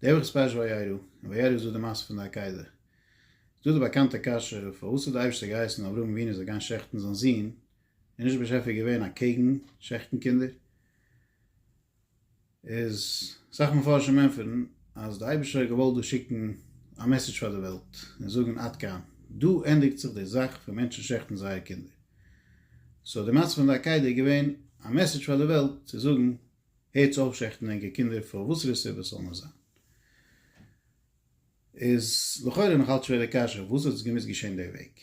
דער וואס איז פרש וירא, און וירא איז דא די מעשה פון די עקידה. איז דא די באקאנטע קשיא, פארוואס האט די אייבערשטער געהייסן אברהם אבינו זאל גיין שעכטן זיין זון, איז נישט דער באשעפער געווען אקעגן שעכטן קינדער? איז אסאך מפרשים ענטפערן אז די אייבערשטער האט געוואלט דא שיקן א מעסעדזש פאר די וועלט, און זאגן עד כאן, דא ענדיגט זיך די זאך פון מענטשן שעכטן זייערע קינדער. סאו די מעשה פון די עקידה איז געווען א מעסעדזש פאר די וועלט צו זאגן הערטס אויף שעכטן ענקער קינדער פאר וואסערע סיבה ס'זאל נאר זיין. איז לכאורה נאך אלץ שווער די קשיא וואס האט עס געמוזט געשען די וועג?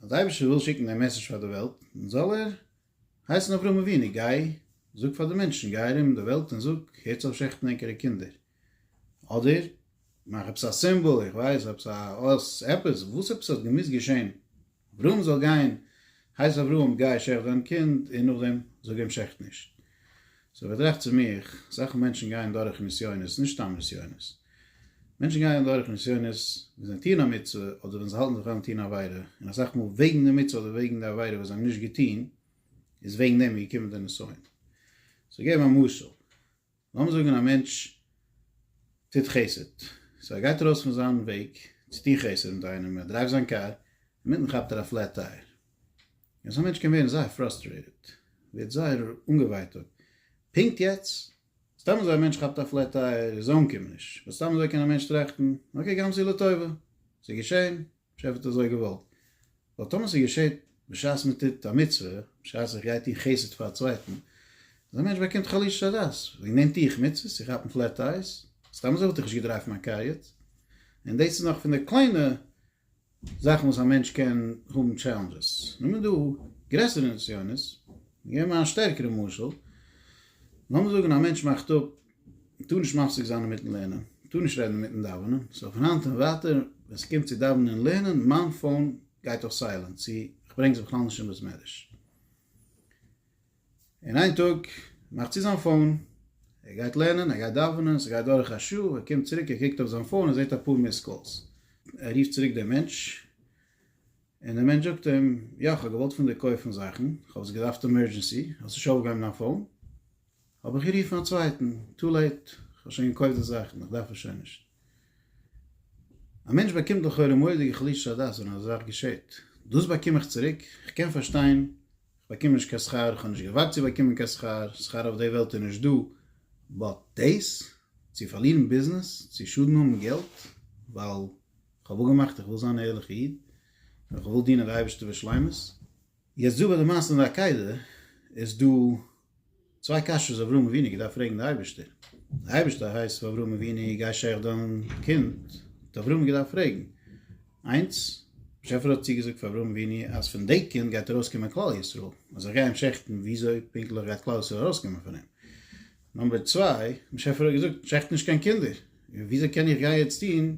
אז די אייבערשטער וויל שיקן די מעסעזש פאר די וועלט זאל ער הייסן אברהם אבינו גיי זאג פאר די מענטשן גיי ארום די וועלט און זאג הערטס אויף שעכטן ענקערע קינדער אדער מאך עפעס א סימבאל, איך ווייס, עפעס א אות, עפעס, וואס עפעס האט געמוזט געשען, אברהם זאל גיין, הייס אברהם גיי שעכט דיין קינד און נאכדעם זאג אים שעכט נישט. סאו איך טראכט צו מיך, אסאך מענטשן גייען דורך נסיונות, נישט סתם נסיונות, מענטשן גייען דורך נסיונות ווען זיי טוען א מצוה אדער ווען זיי האלטן זיך אן טון עבירה, און אסאך מאל וועגן די מצוה אדער וועגן די עבירה וואס זיי האבן נישט געטון איז וועגן דעם געקומען די נסיון. סאו געב א משל, לאמיר זאגן א מענטש טוט חסד, סאו ער גייט ארויס פון זיין וועג צו טון חסד מיט איינעם, ער דרייווט זיין קאר, אינמיטן כאפט ער א פלעט טייער, און אזא מענטש קען ווערן זייער פראסטרעיטעד, ווערט זייער אנגעווייטאגט, פונקט יעצט, סתם אזוי א מענטש כאפט א פלעט טייער איז אומקומעניש, באט סתם אזוי קען א מענטש טראכטן, אקעי גם זו לטובה, ס'איז געשען, השי ת האט אזוי געוואלט. ווייל טאמער ס'געשעט בשעת מ'טוט א מצוה, בשעת איך גיי טון חסד פאר א צווייטן, אזא מענטש באקומט חלישות הדעת. ווי נעם טו איך מצוות צו כאפן פלעט אייז? סתם אזוי וואלט איך נישט געדרייווט מיין קאר יעצט. און דאס איז נאך פון די קליינע זאכן וואס א מענטש קען האבן טשעלענדזשעס. נאר מען דא גרעסערע נסיונות. געב מיר א שטערקערע משל. לאמיר זאגן א מענטש מאכט אפ מען טאר נישט מפסיק זיין אינמיטן לערנען, מען טאר נישט רעדן אינמיטן דאווענען, סאו פון היינט און ווייטער ווען ס'קומט צו דאווענען און לערנען, מיין פאון גייט אויף סיילענט, צו איך ברענג עס בכלל נישט אין בית מדרש. און איין טאג מאכט צו זיין פאון, ער גייט לערנען, ער גייט דאווענען, ס'גייט דורך א שעה, ער קומט צוריק, ער קוקט אויף זיין פאון, ער זעט אפאר מיסד קאלס, ער רופט צוריק דעם מענטש, און דער מענטש זאגט אים, יא, כ'האב געוואלט פון דיר קויפן זאכן, כ'האב עס געדארפט עמערדזשענסי, האסט נישט אויפגעהויבן דיין פאון? האב איך גערופן א צווייטן, טו לעיט, כ'האב שוין געקויפט די זאכן, איך דארף עס שוין נישט. א מענטש באקומט לכאורה מורא'דיגע חלישות הדעת ווען אזא זאך געשעהט. דאס באקום איך צוריק? איך קען פארשטיין, כ'באקום נישט קיין שכר, כ'האב נישט געווארט צו באקומען קיין שכר, שכר אויף די וועלט איז נישט דא, באט דאס? צו פארלירן ביזנעס? צו שאדן האבן געלט? ווייל כ'האב אפגעמאכט איך וויל זיין א ערליכע איד, און כ'וויל דינען די אייבערשטער בשלימות. יעצט דא ביי די מעשה אין די עקידה, איז דא צוויי קשיות אברהם אבינו געדארפט פרעגן די אייבערשטער, די אייבערשטער הייסט פאר אברהם אבינו גיי שעך דיין קינד, האט אברהם געדארפט פרעגן, איינס, באשעפער האט צוגעזאגט פאר אברהם אבינו אז פון די קינד גייט ארויס קומען כלל ישראל, אז איך גיי אים שעכטן וויאזוי פונקטליך גייט כלל ישראל ארויס קומען פון אים? נאמבער צוויי, באשעפער האט געזאגט שעכט נישט קיין קינדער, וויאזוי קען איך גיי יעצט טון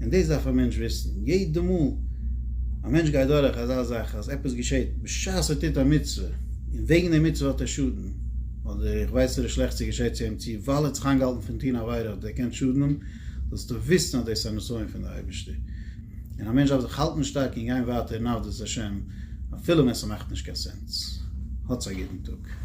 און דאס דארף א מענטש וויסן, יעדע מאל א מענטש גייט דורך אזא זאך אז עפעס געשעט בשעת ער טוט א מצוה, און וועגן די מצוה האט ער שאדן, אדער איך ווייס נישט וואס שלעכטס איז געשעט צו אים צו ווייל ער האט זיך איינגעהאלטן פון טון עבירה האט ער דערקענט שאדן האבן, זאלסטו וויסן אז דאס איז א נסיון פון די אייבערשטער, און א מענטש דארף זיך האלטן שטארק און גיין ווייטער אין עבדות השם אפילו ווען ס'מאכט נישט קיין סענס. האטס א גוטן טאג.